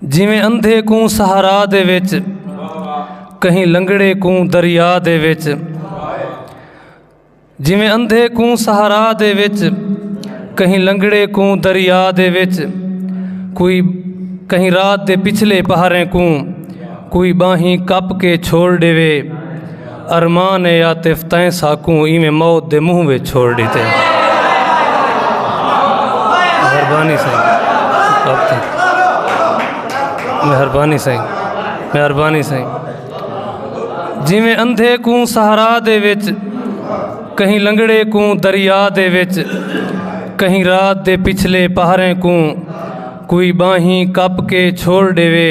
جیویں اندھے کوں سہارا دے وچ کہیں لنگڑے کوں دریا دے وچ جیویں اندھے کوں سہارا دے وچ کہیں لنگڑے کوں دریا دے وچ کوئی کہیں رات دے پچھلے پہریں کوں کوئی باہیں کپ کے چھوڑ ڈیوے ارمان اے عاطف تیں ساکوں ایویں موت دے منہ وچ چھوڑ ڈیتے مہربانی سائیں مہربانی سائیں مہربانی سائیں جویں اندھے کوں سہارا دے وچ کہیں لنگڑے کوں دریا دے وچ کہیں رات دے پچھلے پہریں کوں کوئی باہیں کپ کے چھوڑ ڈیوے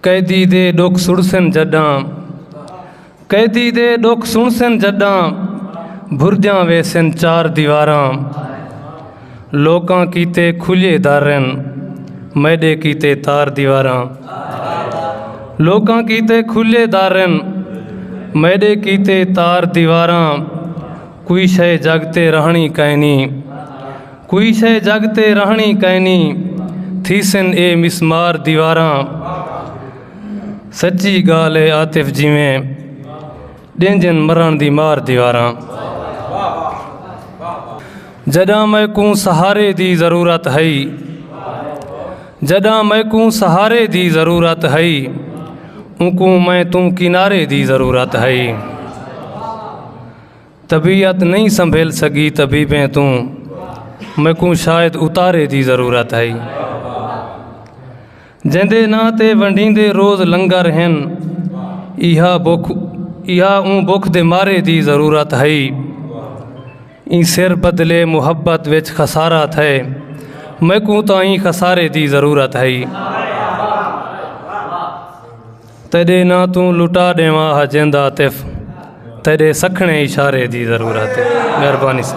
قیدی دے ڈکھ سنڑسن جڈاں قیدی دے ڈکھ سنڑسن جڈاں بھرجاں ویسن چار دیواراں لوکاں کیتے کھلے درن میڈے کیتے تار دیواراں لوکاں کیتے کھلے درن میڈے کیتے تار دیواراں کوئی شے جگ تے رہنڑی کائنی کوئی شے جڳ تے رہݨی کائنی تھیسن اے مسمار دیواراں سچی ڳالھ اے عاطف جیویں ݙینجن مرݨ دی مار دیواراں جݙاں میکوں سہارے دی ضرورت ہئی جݙاں میکوں سہارے دی ضرورت ہئی اونکوں میں توں کنارے دی ضرورت ہئی طبیعت نئیں سنبھل سگی طبیبیں توں میکوں شاید اتارے دی ضرورت ہئی جیندے نا تے ونڈیندے روز لنگر ہن ایہا بکھ ایہا اوں بکھ دے مارے دی ضرورت ہئی ایں سر بدلے محبت وچ خسارہ تھے میکوں تاں ایں خسارے دی ضرورت ہئی تیڈے ناں توں لٹا ڈیواں ہا جیندا عاطف تیڈے سکھنے اشارے دی ضرورت ہے مہربانی سا